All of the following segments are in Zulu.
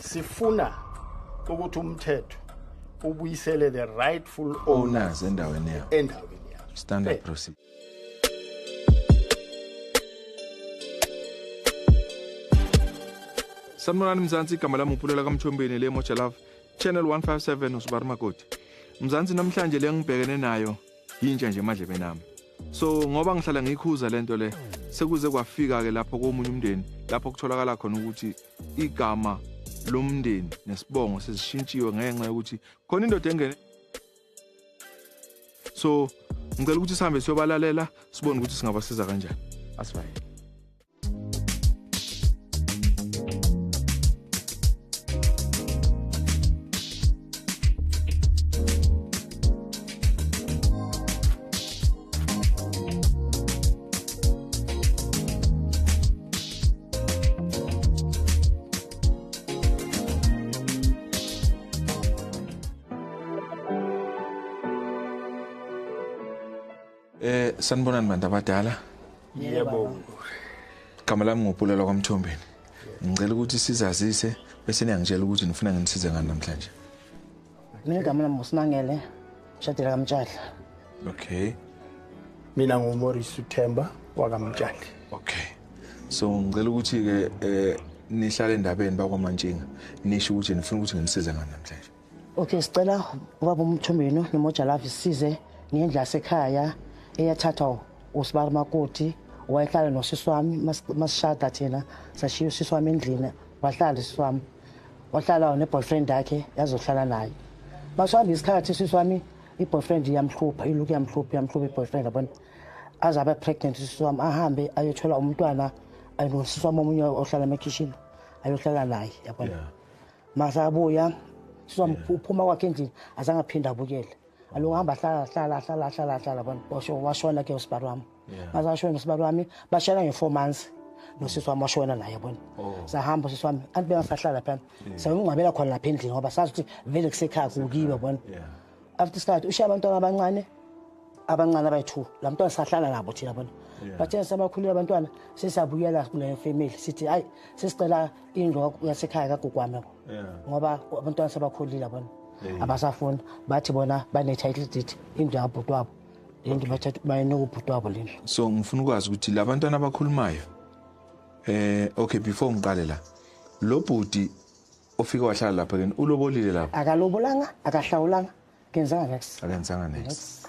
sifuna ukuthi umthetho ubuyisele the rightful owners endaweni yabo endaweni yabo standard procedure sanibonani mzansi igama lami upulela kamthombeni le moja love channel 157 usibari makoti mzansi namhlanje le ngibhekene nayo yintsha nje emadlebe nami so ngoba ngihlala ngikhuza lento le sekuze kwafika-ke lapho komunye umndeni lapho kutholakala khona ukuthi igama lomndeni nesibongo sesishintshiwe ngenxa yokuthi khona indoda engene so ngicela ukuthi sihambe siyobalalela sibone ukuthi singabasiza kanjani asivayele Eh sanibonani bantu abadala. Yebo. Igama lami ngupulelo kwaMthombeni. Ngicela ukuthi sizazise bese niyangitshela ukuthi nifuna nginisize ngani namhlanje. mina igama lami ngusimangele shadela kamtshadla okay mina ngumorisi uthemba wakamtshadla okay so ngicela ukuthi-ke um nihlale endabeni bakwamantshinga nisho ukuthi nifuna ukuthi nginisize ngani namhlanje okay sicela ubaba umthombenu nomojalavi size ngendlu yasekhaya eyathathwa usibari makoti wayehlala nosisi wami masishada thina sashiya usisi wami endlini wahlala usisi wami wahlala ne-boyfriend yakhe yazohlala naye masihamba isikhathi sisi wami i-boyfriend iyamhlupha iloku yamhlupha yamhlupha i-boyfriend yabona aze abe pregnant sisi wami ahambe ayothola umntwana anosisi wami omunye ohlala emakhishini ayohlala naye yabona yeah. mase abuya sisi wami yeah. uphuma kwakhe endlini azange aphinde abukele alungu hamba hlala hlala hlala hlala hlala bona washo washona ke usibari wami ngaze ngasho wena sibali wami bashayela nge-four months nosisi wami washona naye yabona oh. sahamba usisi wami anti bengasahlala phana sawumngcwabela khona lapha endlini ngoba sazi ukuthi vele kusekhaya kukiwe yabona after isikhathi ushiya abantwana abancane abancane abayi-two la mntwana sahlala nabo thina bona bathena sabakhulile abantwana sesabuyela kule family sithi hayi sesicela indlu yasekhaya kagugwami ngoba abantwana sebakhulile abona abasafuni bathi bona bane-title deed indlu yabhuti wabo and bathatha bayeneka ubhuti wabo lendlu so ngifuna ukwazi ukuthi labantwana abakhulumayo eh okay before ngiqale la lo bhuti ofike wahlala lapha kini ulobolile lapha akalobolanga akahlawulanga kenzanga next akenzanga next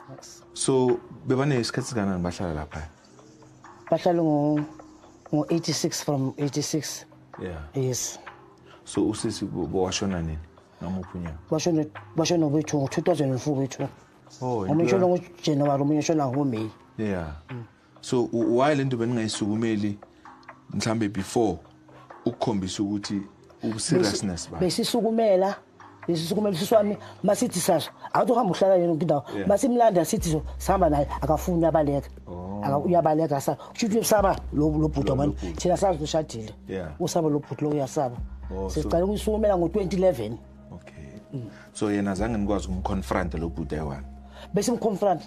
so bebane isikhathi sikanani bahlala lapha bahlala ngo ngo 86 from 86 yeah yes so usisi washona nini ngamuphi unyaka washona washona kwethu ngo 2004 kwethu Oh, omunye ushona ngoJanuary omunye ushona ngoMay. Yeah. Mm. So why lento beningayisukumeli mhlambe before ukukhombisa ukuthi ubuseriousness ba. Besisukumela lesisukumela siswami masithi sasho awuthi uhamba uhlala yena nkindawo masimlanda sithi so sihamba naye akafuni uyabaleka oh. uyabaleka sa kusho ukuthi usaba lo bhuti abantu thina sazi ushadile usaba lo bhuti lo uyasaba oh, siqale ukuyisukumela ngo-2011 okay mm. so yena zange nikwazi ukumconfronta lo bhuti ayiwani bese mconfronta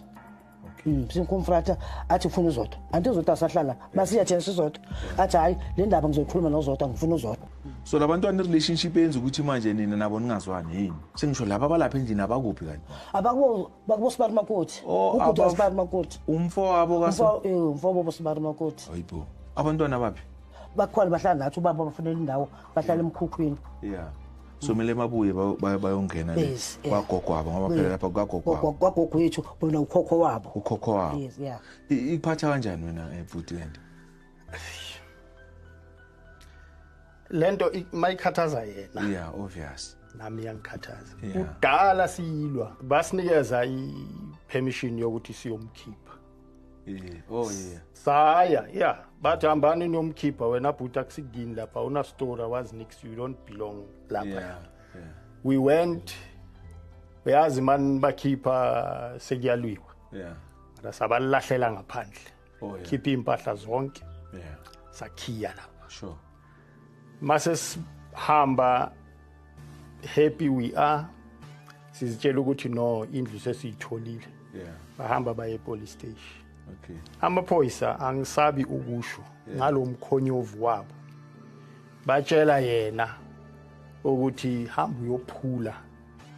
okay mm, simconfronta athi ufuna uzodwa anti uzodwa asahlala basiya chance uzodwa athi hayi le ndaba ngizoyikhuluma nozodwa ngifuna uzodwa so labantwana relationship yenza ukuthi manje nina nabo ningazwani yini sengisho laba balapha endlini abakuphi kanti abakubo bakubo sibari makuthi oh, ubhuti wasibari makuthi umfo wabo kaso eh, umfo wabo sibari makuthi hayibo abantwana baphi bakhona bahlala nathi ubaba bafunela indawo bahlala emkhukhwini yeah so kumele babuye bayongena kwagogwabo ngoba phela lapha kwagogwabo kwagogo wethu bona ukhokho wabo ukhokho wabo yes yeah ikuphatha kanjani wena ebhuti eh, lento lento mayikhathaza yena yeah obvious nami yangikhathaza kudala siyilwa basinikeza i permission yokuthi siyomkhipha oh yeah saya yeah bathi hambani niyomkhipha wena bhuti akusidini lapha una story was nix you don't belong lapha yeah, yeah. we went uyazi mani bakhipha sekuyalwiwa yeah ra sabalahlela ngaphandle oh, yeah. khipha impahla zonke yeah sakhiya lapha sure masesihamba happy we are sizitshela ukuthi no indlu sesiyitholile yeah. bahamba baye epolice station okay. amaphoyisa angisabi ukusho yeah. ngalo mkhonyovu wabo batshela yena ukuthi hamba uyophula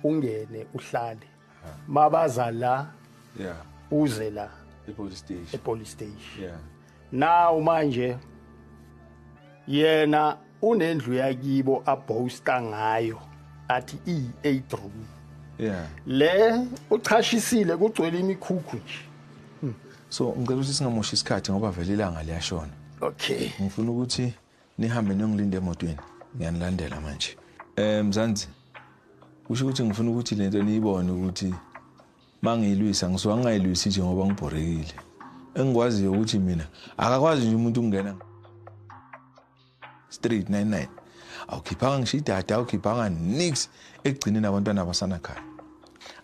ungene uhlale mabaza la yeah uze la epolice station epolice station yeah now manje yena unendlu yakibo abhosta ngayo athi i8 room yeah le uchashisile kugcwele imikhukhu nje hmm. so ngicela ukuthi singamoshi isikhathi ngoba vele ilanga liyashona okay ngifuna ukuthi Nihambe niyongilinde emotweni. Ngiyanilandela manje. Eh Mzansi. Kusho ukuthi ngifuna ukuthi lento niyibone ukuthi mangiyilwisa ngisuka ngingayilwisi nje ngoba ngibhorekile. Engikwaziyo ukuthi mina akakwazi nje umuntu ukungena straight 99. Awukhiphanga ngisho idata, awukhiphanga nix ekugcineni abantwana abasana khaya.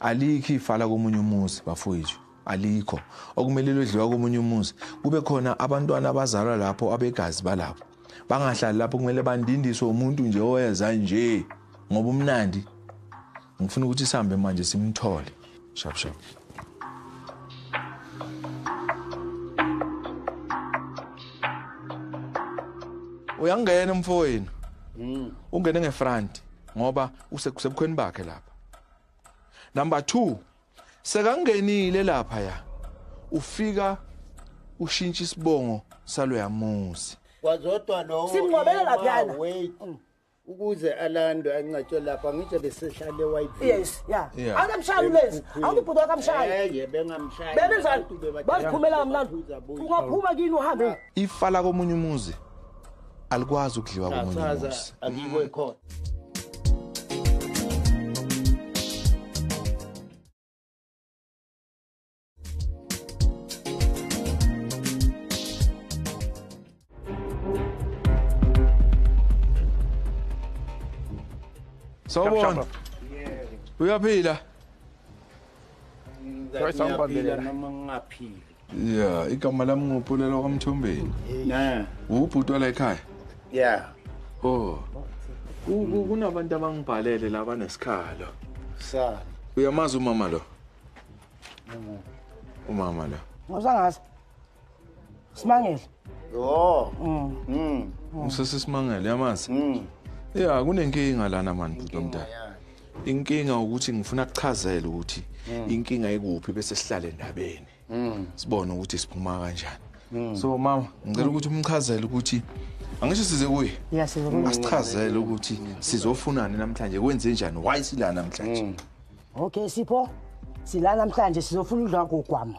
Alikho ifala komunye umuzi bafowethu. alikho okumele lodliwa komunye umuzi kube khona abantwana abazalwa lapho abegazi balapho bangahlali lapho kumele bandindiswe umuntu nje oweza nje ngoba umnandi ngifuna ukuthi sihambe manje simthole shap shap uyangena umfowenu hmm. ungene ngefront ngoba usebukhweni bakhe lapha number 2 Sekangenile lapha ya. Ufika ushintsha isibongo saloyamuzi. Kwazodwa lowo. Simngcwabele lapha yana. Wait. Mm. ukuze alandwe ancatshwe lapha ngisho besehlale white yes yeah, yeah. akamshayi lezi awubhuti wakamshayi eh yebe ngamshayi bebe njani baziphumela kamnandi ungaphuma kini uhambe ifa la komunye umuzi alikwazi ukudliwa komunye umuzi sawubona uyaphila noma ngingaphila ya igama lami ngupulela kwamthombeni ne ubhuti wala ekhaya ya oh kunabantu abangibhalele la banesikhalo sa uyamazi umama lo umama lo ngizangazi simangele yho mm. mm. usesisimangele yamazi mm. ya kunenkinga lana mani bhuti omdala inkinga ukuthi ngifuna kuchazele ukuthi mm. inkinga ikuphi bese sihlale endabeni mm. sibone ukuthi siphuma kanjani mm. so mama ngicela ukuthi umchazele ukuthi angisho size kuye asichazele ukuthi sizofunani namhlanje kwenze njani why sila namhlanje okay sipho sila namhlanje sizofuna udla kogwamo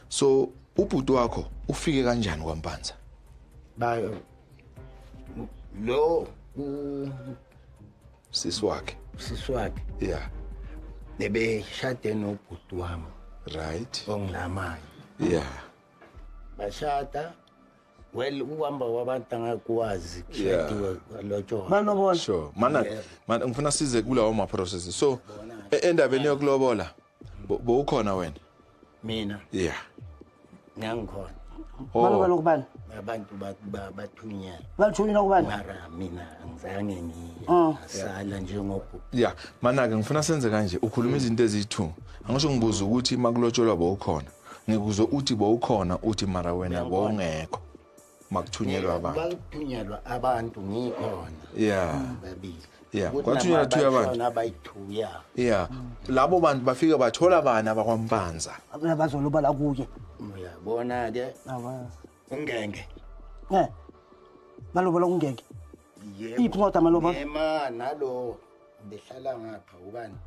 so ubhuti wakho ufike kanjani kwampanza ba lo sisi wakhe sisi wakhe yeah bebeshade nobhuti wami right ongilamayo yeah bashada well ukuhamba kwabantu angakwazi kushadiwe lotshola manobola sure mana ngifuna size kulawo ma process so e-, endabeni yokulobola bowukhona wena mina yeah ngangikhona oh. baloba lokubani abantu bathunyela balithulile okubani mara mina angizange ngisala oh. njengoku ya mana-ke ngifuna senze kanje ukhuluma izinto eziyi-two angisho ngibuza ukuthi makulotsholwa bowukhona ngikuze uthi bowukhona uthi mara wena bowungekho makuthunyelwa abantu bakuthunyelwa abantu ngikhona yeah babili yeah kwathunyelwa thuya abantu abayithuya yeah labo bantu bafike bathola bani abakwampanza abana bazoloba la kuye uyabona ke ungenge eh balobola ungenge yebo iphi kodwa maloba yema nalo behlala ngapha ubani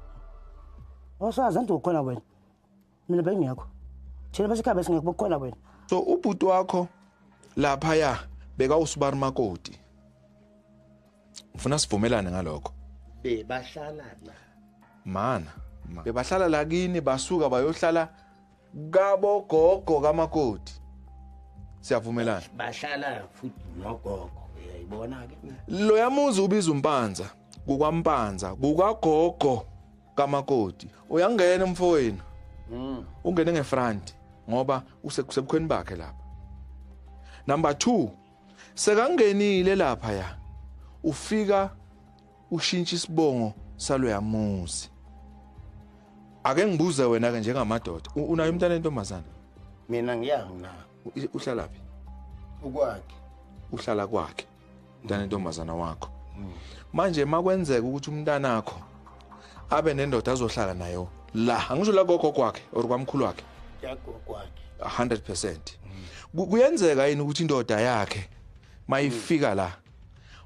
osazi anti ukhona wena mina bengekho thina basekhaya besingekho bokukhona wena so ubhuti wakho lapha ya beka usibari makoti ngifuna sivumelane ngalokho bebahlala la mana bebahlala la kini basuka bayohlala kabo gogo kamakoti siyavumelana bahlala futhi nogogo uyayibona ke lo yamuzi ubiza umpanza kukwampanza kukagogo kamakoti uyangena umfowenu mm. ungene ngefront ngoba usebukhweni bakhe lapha number 2 sekangenile lapha ya ufika ushintsha isibongo saloyamuzi ake ngibuze wena ke njengamadoda unayo umntana entombazana mina ngiyangina uhlalaphi ukwakhe uhlala kwakhe mntana intombazana wakho manje makwenzeka ukuthi umntanakho abe nendoda azohlala nayo la angisho la gogo kwakhe or kwamkhulu wakhe yagogo kwakhe 100% kuyenzeka yini ukuthi indoda yakhe mayifika la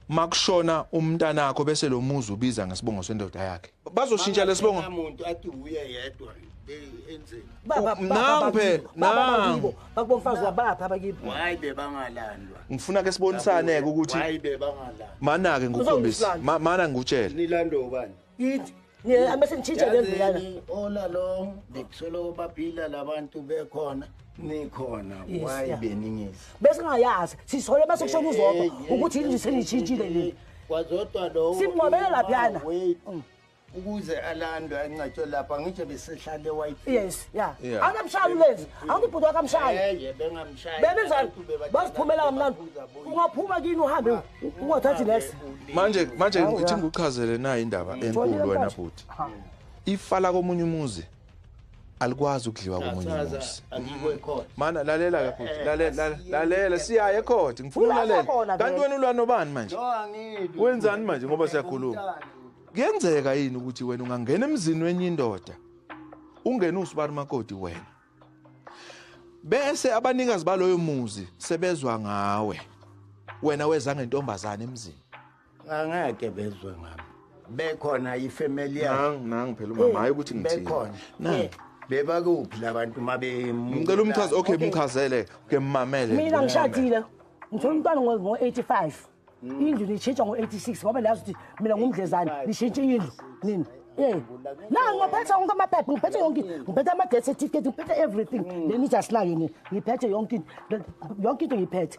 makushona umntanakho bese lo muzi ubiza ngesibongo sendoda yakhe bazoshintsha lesibongo muntu athi uye yedwa nangu phela nangu bakubomfazi wabapha abakibo hayi bebangalandwa ngifuna ke sibonisaneke ukuthi hayi bebangalandwa mana ke ngukhombisa mana ngikutshela nilando ubani yithi ngiye amese ngitshintshe le ndlela ola lo ngikuthola baphila labantu bekhona nikhona wayibe ningizi besingayazi sisole bese kushona uzodwa ukuthi yini senitshintshile leli Wazodwa lowo. Simnqobele laphana. Mm. ukuze alandwe ancatshwe lapha ngitshe besehlale white yes ya angamshayi lezi angibhuti wakamshayi eh bengamshayi bebenzani basiphumela kamnandi ungaphuma kini uhambe ah, ungathathi next manje manje ngithi ngikuchazele nayo indaba enkulu wena bhuti ifa la komunye umuzi alikwazi ukudliwa komunye umuzi mana lalela ke futhi lalela lalela siyaye ekhodi ngifuna ulalela kanti wena ulwa nobani manje wenzani manje ngoba siyakhuluma kuyenzeka yini ukuthi wena ungangena emzini wenye indoda ungene usibari makoti wena bese abanikazi baloyo muzi sebezwa ngawe wena weza ngentombazane emzini angeke bezwe ngami bekhona ifamily yakhe nangi phela umama hayi ukuthi ngithini bekhona nangi bebakuphi labantu uma bemcela umchaze okay mchazele ke mmamele mina ngishadile ngithola umntwana ngo-85 mm. indlu niyishintsha ngo-86 ngoba niyazi ukuthi mina ngumdlezane nishintshe indlu nini Eh. Na ngiphethe wonke amaphepha, ngiphethe yonke, ngiphethe ama death certificate, ngiphethe everything. Leni just la yini, ngiphethe yonke, yonke into ngiphethe.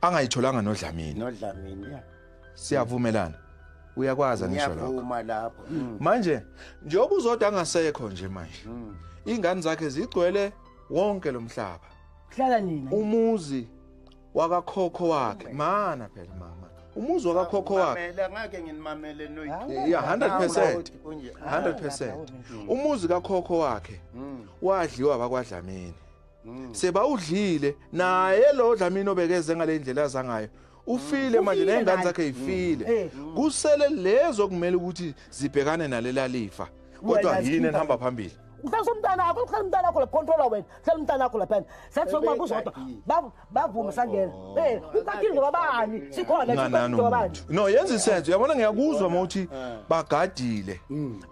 angayitholanga nodlamini nodlamini ya siyavumelana uyakwazi ngisho lokho ngiyavuma lapho mm. manje njengoba uzoda angasekho nje manje mm. ingane zakhe zigcwele wonke lomhlaba hlala nina umuzi wakakhokho wakhe mana phela mama umuzi wakakhokho wakhe ngeke nginimamele no ya 100% 100% umuzi kakhokho wakhe mm. wadliwa bakwadlamini Mm. sebawudlile naye lo Dlamini obekeze ngale ndlela zangayo ufile mm. manje nezingane zakhe ifile mm. eh. kusele lezo kumele ukuthi zibhekane nalela lifa kodwa yini enihamba phambili hlelisa umntana wakho hlelisa umntana wakho laphonthola wena hlelisa umntana wakho laphana sathi sokuba kuzodwa bavume sangena oh. eh ukhathile ngoba bani sikhona ngoba bani no yenza isenzo uyabona ngiyakuzwa mawuthi eh. bagadile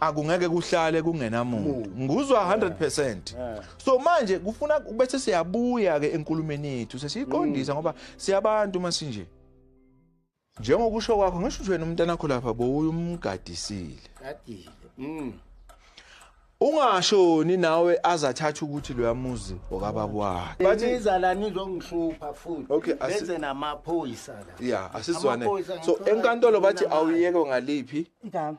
akungeke kuhlale kungenamuntu nguzwa 100% so manje kufuna bese siyabuya ke enkulumeni yethu sesiyiqondisa mm. ngoba siyabantu uma sinje njengokusho kwakho ngisho ukuthi wena umntana wakho lapha bowuye umgadisile gadile mm ungashoni nawe azathatha ukuthi loya muzi okababa wakhe bathi izala nizongihlupha futhi okay, benze namaphoyisa la yeah asizwane so enkantolo bathi awuyeke ngaliphi igama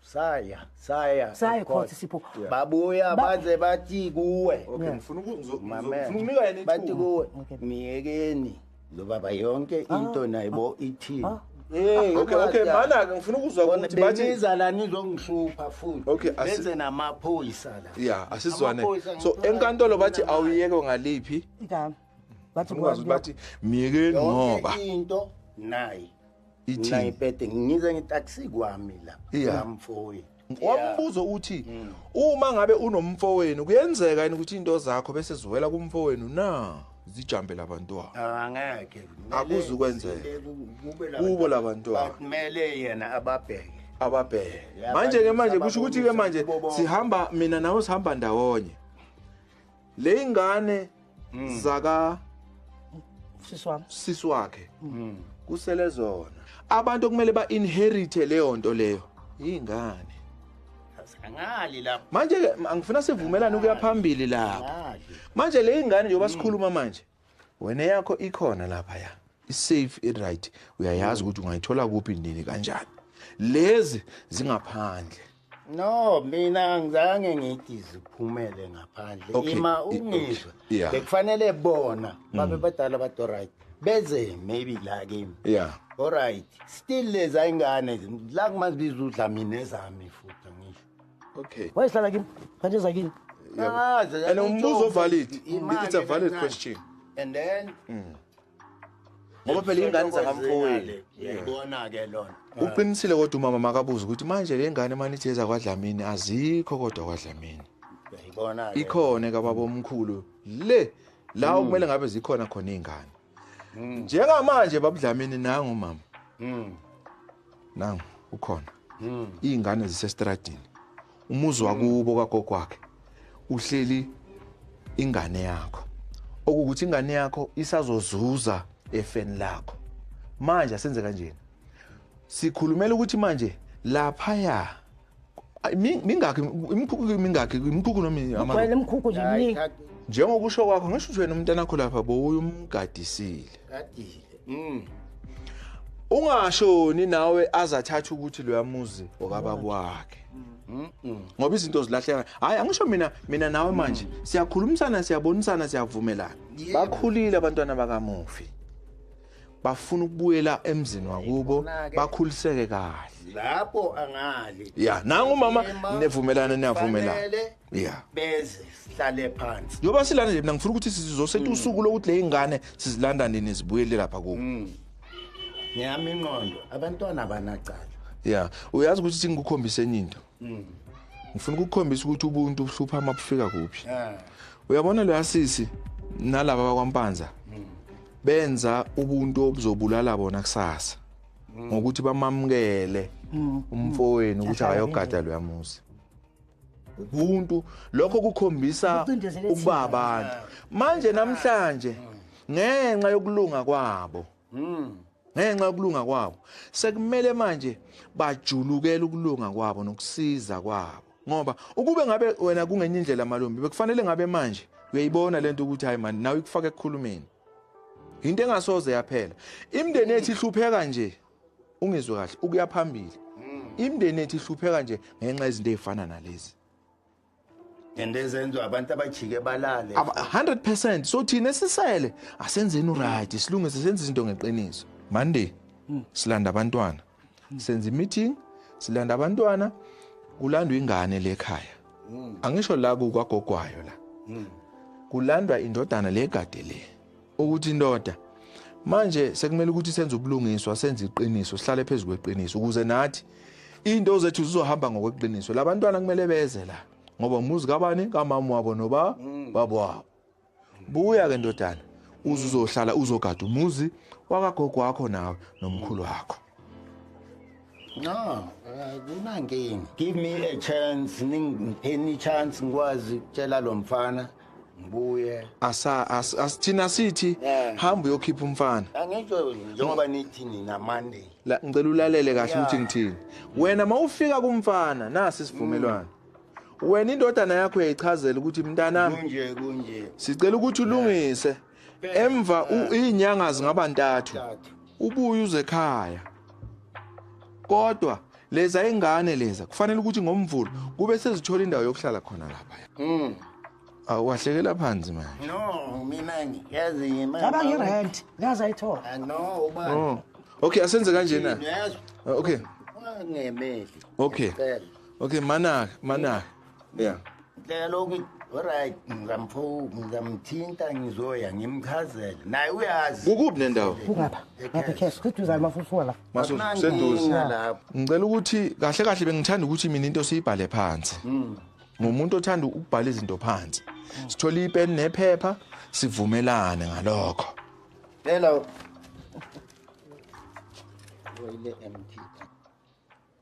saya saya saya khothi sipho babuya baze bathi kuwe okay ngifuna ukunika yena bathi kuwe miyekeni lo baba yonke ah. into nayibo ah. ithini ah. Hey, okay, okay, mana ke ngifuna ukuzwa ukuthi bathi niza la nizongihlupha futhi. Okay, benze namaphoyisa la. Yeah, asizwane. So enkantolo bathi awuyeke ngaliphi? Igama. Bathi bathi miyekeni ngoba. Into nayi. Ithini? Mina ngipete ngize ngitaxi kwami la. Yeah. Ngamfoyi. Wambuzo uthi mm. uma ngabe unomfowenu kuyenzeka yini ukuthi into zakho bese ziwela kumfowenu na? zijambe labantwana ah, angeke akuzukwenzeka kubo labantwana kumele yena ababheke ababheke manje ke manje kusho ukuthi ke manje sihamba mina nawe sihamba ndawonye le ingane mm. zaka sisi wami sisi wakhe mm. kusele zona abantu okumele ba inherite leyo nto leyo ingane angali lapho manje ke angifuna sivumelane ukuya phambili lapho manje le ingane njengoba mm. sikhuluma manje wena yakho ikhona lapha ya isafe iright uyayazi ukuthi ungayithola kuphi nini kanjani lezi zingaphandle no mina angizange ngithi ziphumele ngaphandle Okay, ima i- okay, ungizwa yeah. bekufanele bona babe Mm. badala bathi alright beze maybe la kimi ya alright still leza ingane la kumazibiza udlamini ezami futhi angisho okay wayehlala kimi kanti eza kimi and umbuzo valid it's a valid question and then mm. ngoba phela ingane zakamfowenu yayibona ke lona uqinisile kodwa umama makabuza ukuthi manje le ngane mani ithi eza kwadlamini azikho kodwa kwadlamini yayibona ikhona kababa omkhulu le la hmm. okumele ngabe zikhona khona izingane Mm. Njengamanje babudlamini nangu mama. Mm. Nangu ukhona. Mm. Izingane zisestradini. Umuzi mm. wakubo kagogo wakhe. Uhleli ingane yakho. Okukuthi ingane yakho isazozuza efeni lakho. Manje asenze kanjena. Sikhulumela ukuthi manje lapha ya mingakhi imikhukhu mingakhi imikhukhu noma amawele imikhukhu nje miningi njengokusho kwakho ngisho ukuthi wena umntana wakho lapha bowuyumgadisile gadile mm ungashoni nawe azathatha ukuthi loya muzi okaba kwakhe ngoba izinto zilahleka hayi angisho mina mina nawe manje siyakhulumisana siyabonisana siyavumelana bakhulile abantwana bakamufi bafuna ukubuyela emzini wakubo bakhuliseke kahle lapho angali ya nangu mama nevumelana niyavumelana ya beze sihlale phansi njoba silanda nje mina ngifuna ukuthi sizosetha mm. usuku lokuthi le ingane sizilanda nini zibuyele lapha kubo mm. ngiyami inqondo abantwana banacala ya uyazi ukuthi singikukhombise enye into mm. ngifuna ukukhombisa ukuthi ubuntu buhlupha uma bufika kuphi eh. uyabona lo yasisi nalaba bakwampanza mm. benza ubuntu obuzobulala bona kusasa mm. ngokuthi bamamukele umfowenu ukuthi akayogada lo yamuzi ubuntu lokho kukhombisa ukuba abantu manje namhlanje ngenxa yokulunga kwabo ngenxa yokulunga kwabo sekumele manje bajulukele ukulunga kwabo nokusiza kwabo ngoba ukube ngabe wena kungenye indlela malumbi bekufanele ngabe manje uyayibona lento ukuthi hayi mani nawe ikufaka ekukhulumeni into engasoze yaphela imndeni ethi ihlupheka nje ungizwe kahle ukuya phambili imndeni ethi ihlupheka nje ngenxa izinto ezifana nalezi and ezenziwa abantu abajike balale 100% so thina sisele asenzeni uright silunge sisenza izinto ngeqiniso monday hmm. silanda abantwana hmm. senza imeeting silanda abantwana kulandwa ingane le ekhaya hmm. angisho la kukagogwayo la kulandwa indodana le gade le ukuthi indoda manje sekumele ukuthi senze ubulungiswa senze iqiniso sihlale phezu kweqiniso ukuze nathi into zethu zizohamba ngokweqiniso labantwana kumele beze la ngoba umuzi kabani kamama wabo noba mm. babo wabo buya ke ndodana uzohlala uzogada umuzi wakagogo wakho nawe nomkhulu wakho no eh, kunankinga give me a chance ningipheni chance ngikwazi ukutshela lo mfana ngibuye asa as, as thina sithi Yeah. hamba uyokhipha umfana angitsho njengoba nithi nina monday la ngicela ulalele kahle ukuthi ngithini wena mawufika kumfana nasi isivumelwano wena indodana yakho yayichazela ukuthi mntanami kunje kunje sicela ukuthi ulungise emva izinyanga zingaba ntathu ubuye uze ekhaya kodwa leza ingane leza kufanele ukuthi ngomvulo kube sezithola indawo yokuhlala khona lapha mm awahlekela phansi manje no mina ngiyazi yima ngaba ngirent ngaze ayithola ah, no uba oh. okay asenze kanje na ah, okay ungangemeli okay okay manaka manaka yeah ndlela lokhu oryt ngizamthinta ngizoya ngimchazele naye uyazi kukuphi nendawo kungapha ngapha cash seduzane masusuka la masuseduze ngicela ukuthi kahle kahle bengithanda ukuthi mina into siyibhale phansi hmm. ngumuntu othanda ukubhala izinto phansi sithola ipeni nephepha sivumelane ngalokho hello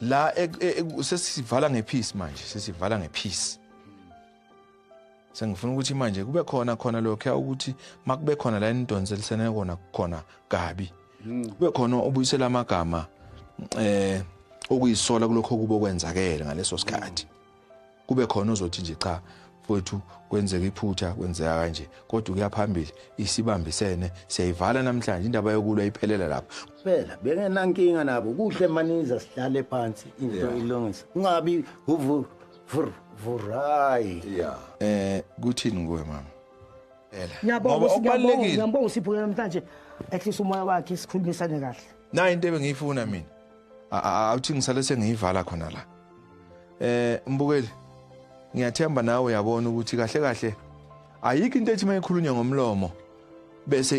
la e, e, e, sesivala ngepeace manje sesivala ngepeace sengifuna ukuthi manje kube khona khona lokho ukuthi makube khona la enidonselisene kona khona kabi hmm. kube khona obuyisela amagama eh okuyisola kulokho kubo kwenzakele ngaleso sikhathi kube khona ozothi nje cha mfowethu kwenzeka iphutha kwenzeka kanje kodwa ukuya phambili isibambisene siyayivala namhlanje indaba yokulwa iphelela lapha phela bengenankinga nabo kuhle maniza sihlale phansi into ilungisa ungabi uvu vurai yeah eh kuthini kuwe mama phela ngiyabonga ngiyabonga ngiyabonga siphuke namhlanje ehlisa umoya wakhe sikhulumisane kahle nayo into ebengiyifuna mina awuthi ngisale sengiyivala khona la eh mbukeli ngiyathemba nawe uyabona ukuthi kahle kahle ayikho into ethi mayikhulunywa ngomlomo bese